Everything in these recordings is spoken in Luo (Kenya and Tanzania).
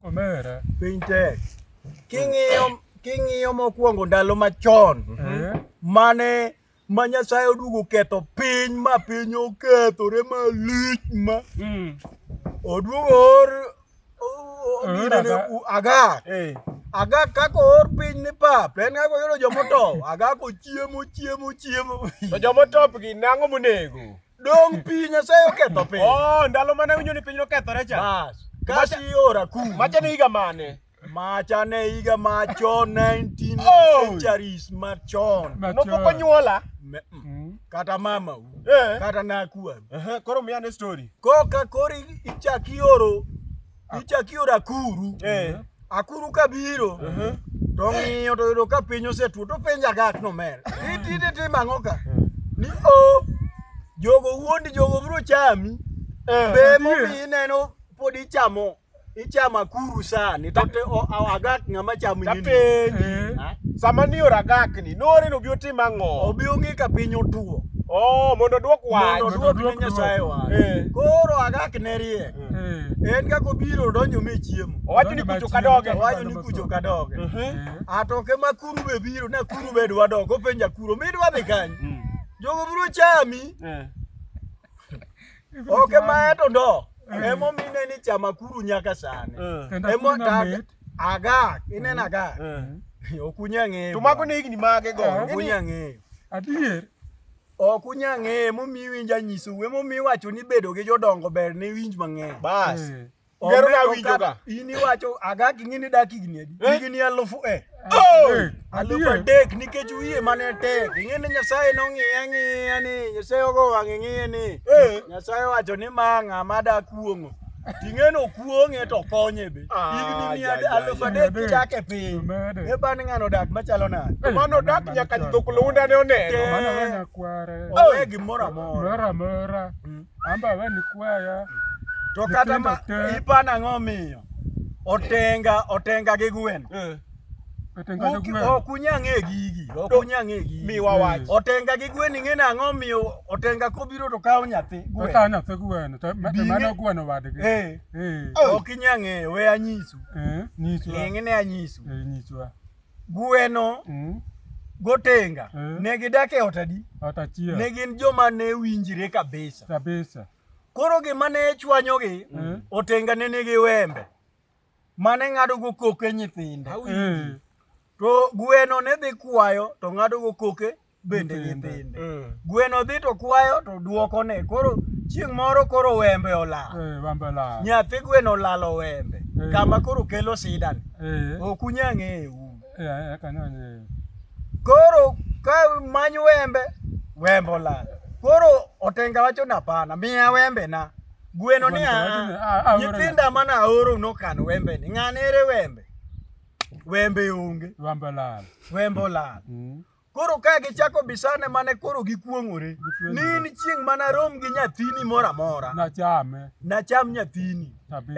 Omera. Piny tek. King'iyo king'iyo mokwongo ndalo machon Eh? mane ma Nyasaye oduogo ketho piny ma piny okethore malich ma Mm. oduogo or o- o- Oor gine ni Agak. u- agak Eh. agak kaka oor piny ni pap en kaka oyudo jomotow agak ochiemo chiemo chiemo To jomotop gi nang'o monego? Dong' pi Nyasaye oketho piny. Oh, ndalo mane winjo ni piny nokethore cha. Bas. Kasi ora ku. Macha ne higa mane? Macha ne higa machon 19 oh. centuries machon. Nopok onyuola. Mm. Kata mama u. Eh. Kata nakua. Uh -huh. Koro miya ne story. Koka kori ichaki oro ichak ioro akuru eh. akuru kabiro uh -huh. to ng'iyo to yudo ka piny osetwo to penjo agak nomer itite tim ang'o ka ni o jogo wuondi jogo biro chami eh, be momi ineno pod ichamo ichamo akuru sani to agak ng'ama chamo nyini eh. sama ni ora agak ni nore no bio tim ang'o obi ong'e ka piny otwo Oh, mondo duok wach. Mondo duok ne Nyasaye wach. Eh. Koro agak ne riek. Eh. En kaka obiro odonjo me chiemo. Owacho ni kucho kadoge. Owacho ni kucho kadoge. Eh. Atoke ma kuru be biro na kuru be dwa dogo penja kuru mi dwa dhi kany. Mm. Jogo biro chami. Eh. Oke ma eto ndo. Emo mine ni chama kuru nyaka sani. Emo tag aga inena ga. Okunya ng'eyo. To mago ne higni mage go. Okunya ng'eyo. Adier. ok unya ng'eye momiyi winj anyiso we momiyi wacho ni bedo gi jodongo ber ne winj mang'eny bas eh. gero na winjo ga in iwacho aga kingi ni dak higni adi eh? higni alufu e eh. oh! eh. alufu adek nikech wiye mane tek ing'e ni nyasaye nong'iye ang'iya ni nyasaye ogo wang'e ng'iye ni nyasaye wacho ni ma ng'a ma dakuong'o Ting'eno kuong'e to konye be. Ah, Higni mia ya, ya, aluf ya. adek kidak e piny. Omede. E ban ng'ano dak machalo nade? Eh, Mano dak mano nyaka mano. jidhok lunda ne oneno. Te- Mano we nyakware. Onge gimoro amora. Moro amora. Mm. Amba we ni kwaya. To kata ma Nyithindo te. ipan ang'o miyo? Otenga, otenga gi gwen. Eh. Ok unya ng'e gigi, ok unya ng'e gigi. Mi wawach. Otenga gi gwen ing'e nang'o omiyo otenga kobiro to kawo nyathi gwen. Okawo nyathi gwen, to mano gweno wadgi. Eh. Eh. Ok inya ng'e, we anyisu. Eh, nyiswa. Ng'e ne anyisu. Eh, nyiswa. Gweno. Mm. Gotenga. Eh. Ne gidak e ot adi? Ot achiel. Ne gin joma ne winjire kabisa. Kabisa. Koro gima ne chwanyogi, mm. otenga ne nigi wembe. mane ng'adogo koke nyithinde mm. to gweno ne dhi kwayo to ng'adogo koke bende nyithinde mm. gweno dhi to kwayo to duoko ne koro chieng' moro koro wembe olal eh, nyathi gweno olalo wembe eh. kama koro kelo sidan eh. ok unya ng'eyo koro ka many wembe wembe olal koro otenga wacho napana miya wembe na Gweno ni a nyithinda mane aoro nokan wembe ni ng'ane ere wembe? Wembe onge. Wembe olal. Wembe olal. Mm. Koro ka gichako bisane mane koro gikuong'ore ni in chieng' mana rom gi nyathini moro amora nachame nacham nyathini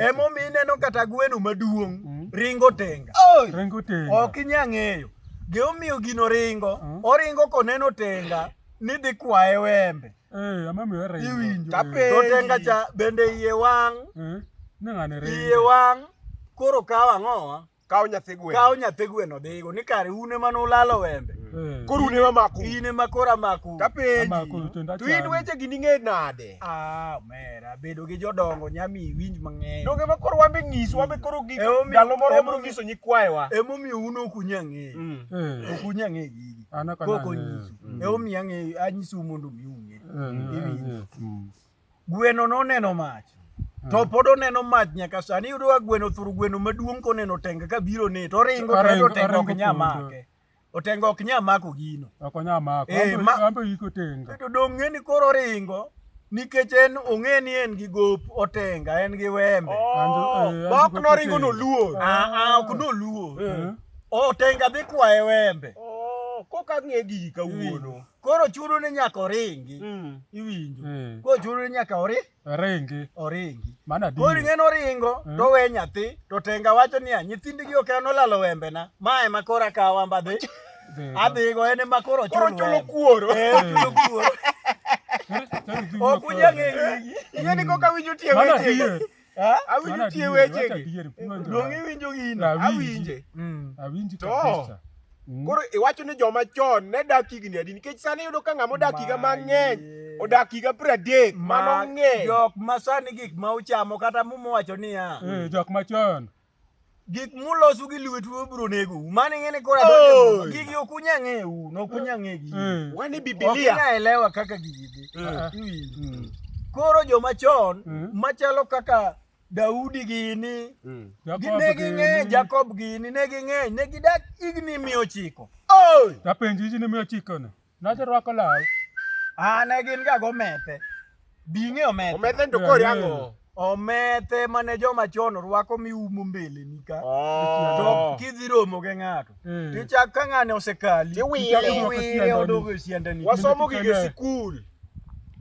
emomi ineno kata gweno maduong' mm. ringo tenga ringo tenga ok inya ng'eyo gimomiyo gino ringo mm. oringo koneno tenga ni dhi kwaye wembe Eh, ama mi wera iwinjo. Kape. To tenga cha bende iye wang. Eh. Nangane re. Iye wang. Koro kaw ang'o? Kaw nyathi gweno. Kaw nyathi gweno dhigo ni kare une mane ulalo wembe. Eh. Koro une mamaku. Ine ma koro amaku. Kapeji. Amaku to ndacha. To in weche gi ninge nade? Ah, mera bedo gi jodongo nyami winj mang'eny. Donge ma koro wambe ng'isu wambe koro gi ndalo moro wabro nyiso nyikwayewa. Emomiyo uno kunyang'e. Mm. Eh. Okunyang'e gigi. kokonyisu mm. emomiyo ang'eyo anyisou mondo mi ung'e mm. mm. gweno noneno mach to pod oneno mach nyaka sani iyudo ka gweno thuru gweno maduong' koneno tenga ka biro ne to oringo to otenga ok nya make otenga ok nya mako gino to dong' ng'eni koro oringo nikech en ong'e ni en gi gop otenga en gi wembe bok noringo noluor ok noluor otenga dhi kwaye wembe koka ng'e gigi kawuono koro chuno ni nyaka oringi hmm. iwinjo hmm. koro chuno ni nyaka ori oringi oringi koro ing'e noringo hmm. towe nyathi to tenga wacho niya nyithindgi ok en olalo wembena ma ema koro akawa mbadhi adhi go en ema koro chulo chulo kuoro chulo kuoro ok unyal ng'eyo ing'e ni koka winjo tie weche awinjo tie weche donge iwinjo gino awinje mm. awinji to mm. koro iwacho ni joma chon ne dak higni adi nikech sani yudo ka ng'ama odak higa mang'eny odak higa piero adek mano ng'eny jok ma sani gik ma uchamo kata mumowacho niya eh, jok machon gik mulosu gi lwetu obro nego mane ngene kora donjo gigi ok unya ng'eyo no ok unya ng'e gigi mm. wani biblia ok unya elewa kaka gigi dhi uh-huh. mm. koro joma chon mm. machalo kaka Daudi gini mm. ne ging'eny Jakob gini ne ging'eny ne gidak igni miyo chiko apenji igni miyo chiko ne Nodhi rwako law. Ah, ne gin ga gomethe. Bing'e omethe. Omethe to kori ang'o? Omethe mane joma chon rwako miumo mbele ni ka. Oh. To kidhi romo gi ng'ato. Hmm. Tichak ka ng'ane osekali. Tiwile odogo siende ni. Wasomo gige sikul.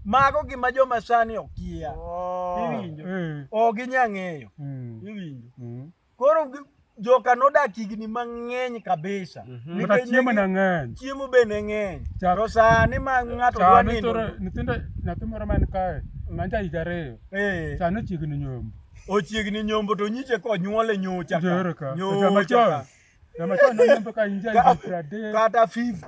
Mago gima joma sani okia. Oh. Iwinjo. Hmm. Ok ginyang'eyo. Hmm. Iwinjo. Koro joka nodak higni mang'eny kabisa. Mhm. Kata chiemo ne ng'eny. Chiemo be ne ng'eny. To sani ma ng'ato dwa nindo. Nyithindo nyathi moro man kae ma ja higa ariyo. Eh. Sani ochiegni nyombo. Ochiegni nyombo to nyiche ko nyuole nyocha. Joro ka. Nyocha. Kama chon nyombo ka inja higa pradek. Kata 50.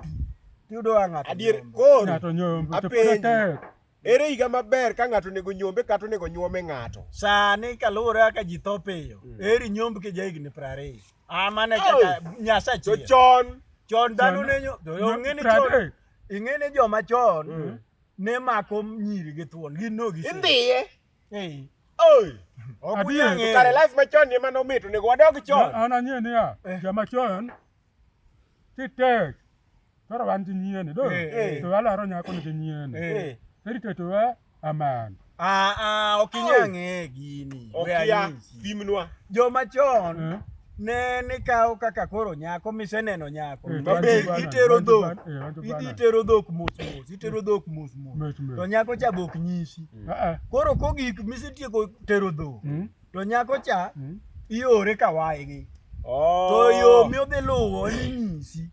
Tiyudo ng'ato. Adier koro. Ng'ato nyombo. Apenji. Ere higa maber ka ng'ato onego nyombe kata onego nyuome ng'ato? Sani kaluwore kaka ji tho piyo, mm. eri nyomb ki jahigni piero ariyo. Ah, mane kaka Nyasaye chon. To chon. Chon dhano ne nyo. Ong'e ni chon. Ing'e ni joma chon mm. ne mako nyiri gi thuon. Gin no gi. Indhiye. Ei. Oi. Ogunyang'e. Kare life machon ni mano mit onego wadog chon. An ang'e niya, eh. joma chon Titek. Toro wan gi nyieni do. Eh, eh. To alaro nyako nigi nyieni. Eh. Eri to to eh, aman. Ah ah ok inya ng'e gini. Ok Where ya is he? pimnwa. Joma chon Eh. ne nikawo kaka koro nyako miseneno nyako. Eh, To wan be gi bana, itero wan gi dhok. bana, eh, wan gi Idhi bana. itero dhok mos mos, itero dhok mos mos. Mos mos. To nyako cha be ok nyisi. Ah ah. Koro kogik misetieko tero dhok. Mm. to nyako cha mm. iore ka waygi oh. to yo miodhi luwo ninyisi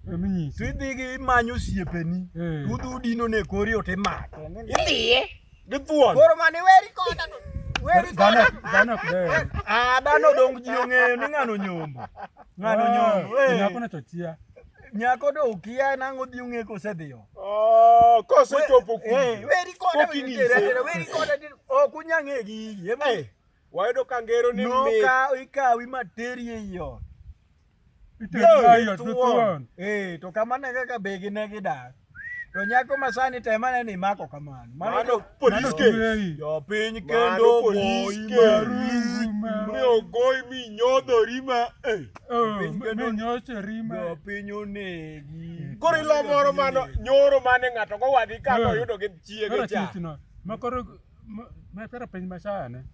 to idhigi imanyo osiepeni eh. udhi udino ne kori ote make idhiye githuon koro mani weri koda ah, dhano dongo ji ong'eyo ni ng'ano nyombo ng'ano ah, nyombo eh. nyako ne to chia nyako do ukia nango dhi ung'e kosedhiyo oh, kosechopo eh, weri koda weri koda ok unyang'e gi Wayudo ka ngero ni No mit. ka ikawi materi ei ot. Thuon. Eh, to kamano e kaka begi ne gidak. To nyako ma sani tem ane ni imako kamano. Mano police mano- case. Jo piny Mano kendo police goyi case. maruzi. Mi ogoyi mi nyodhori ma. eh. Jo piny onegi. Koro ilo moro mano nyoro mane ng'ato gowadhi ka Eh. noyudo gi chiege cha. makoro Mepera piny machane.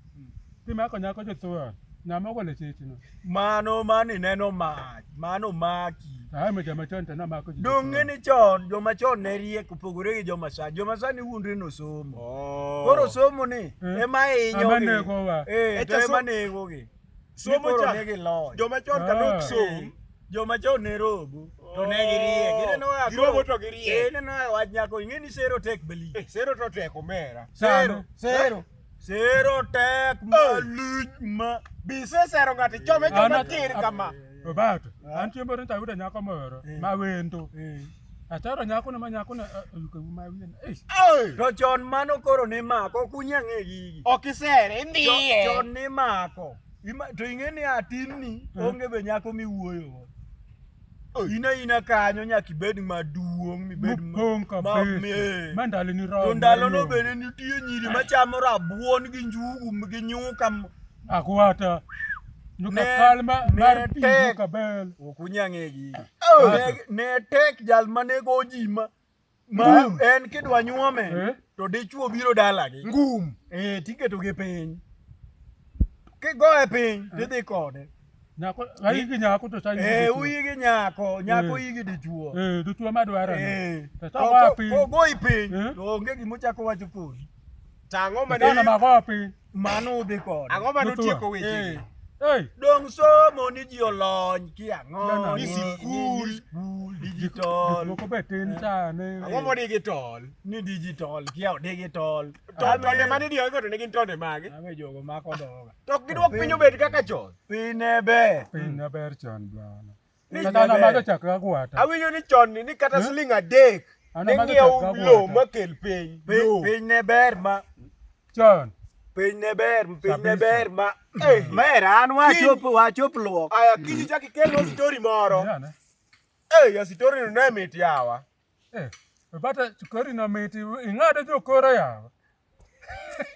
Timako nyako jothoa. Nyama ogolo chichi no. Mano mani neno mach, mano maki. Ah, me jama chon tena mako chichi. Donge ni chon joma chon ne riek opogore gi joma sani. Joma sani wuondre no somo. Oh. Koro somo ni eh. ema inyo. Ema nego wa. Eh, to ema nego gi. Somo cha. Joma chon ka nok eh. somo. joma chon ne rogo to ne girie oh. gineno ya girogo to girie eh neno ya wach nyako ing'e ni sero tek beli eh, sero to tek omera sero sero sero tek eh. malich ma bise sero ngati chome chome kir kama obato an chiembo ni tayudo nyako moro eh. ma wendo atero nyako ne ma nyako ne yuke ma wien eh to chon mano koro ne mako kunya ng'e gigi ok isere ndiye chon ne mako Ima, to ing'e ni atinni mm. onge be nyako miwuoyogo ina ina kanyo nyaka ibed maduong' mibed ma ndaloni romo. To ndalono bende nitie nyiri machamo rabuon gi njugu gi nyuka. Akwata. Nyuka kal ma mar pi nyuka bel. Ok unyang'egi. Ne tek jal ma nego ji ma ma en kidwa nyuome eh? to dichuo biro dalagi ngum eh, tiketogi piny kigoye piny eh? tidhi kode nyako ayigi nyako to sayi eh uyigi nyako nyako eh. yigi dichuo eh dichuo madwaro eh to to wapi ogoyi piny to onge gimochako wacho kodi tang'o mane tang'o mago piny Mano udhi kod. Ang'o ma notieko weche? Hey. Dong somo ni ji olony ki ang'o ni sikul digital. Moko be tin ta ne. Ang'o mo digital? Ni digital ki ao digital. To tonde mani dio igoto ne gin tonde mage? Ame jogo mako doga. To gidwok piny obed kaka chon. Piny ne ber. Piny ne ber chon bwana. Kata an amadho chak ragwata. Awinjo ni chon ni kata siling adek An ne amadho ng'iewo chak lowo ragwata. makel piny. Piny Lowo. piny ne ber ma Chon. piny ne ber piny ne Kabisa. ber ma eh mer an wachop wachop luok. aya kiji chak ikelno story moro Yana. eh ya story no ne mit yawa Eh. Bata chukori na miti. Ing'ado jokora yawa.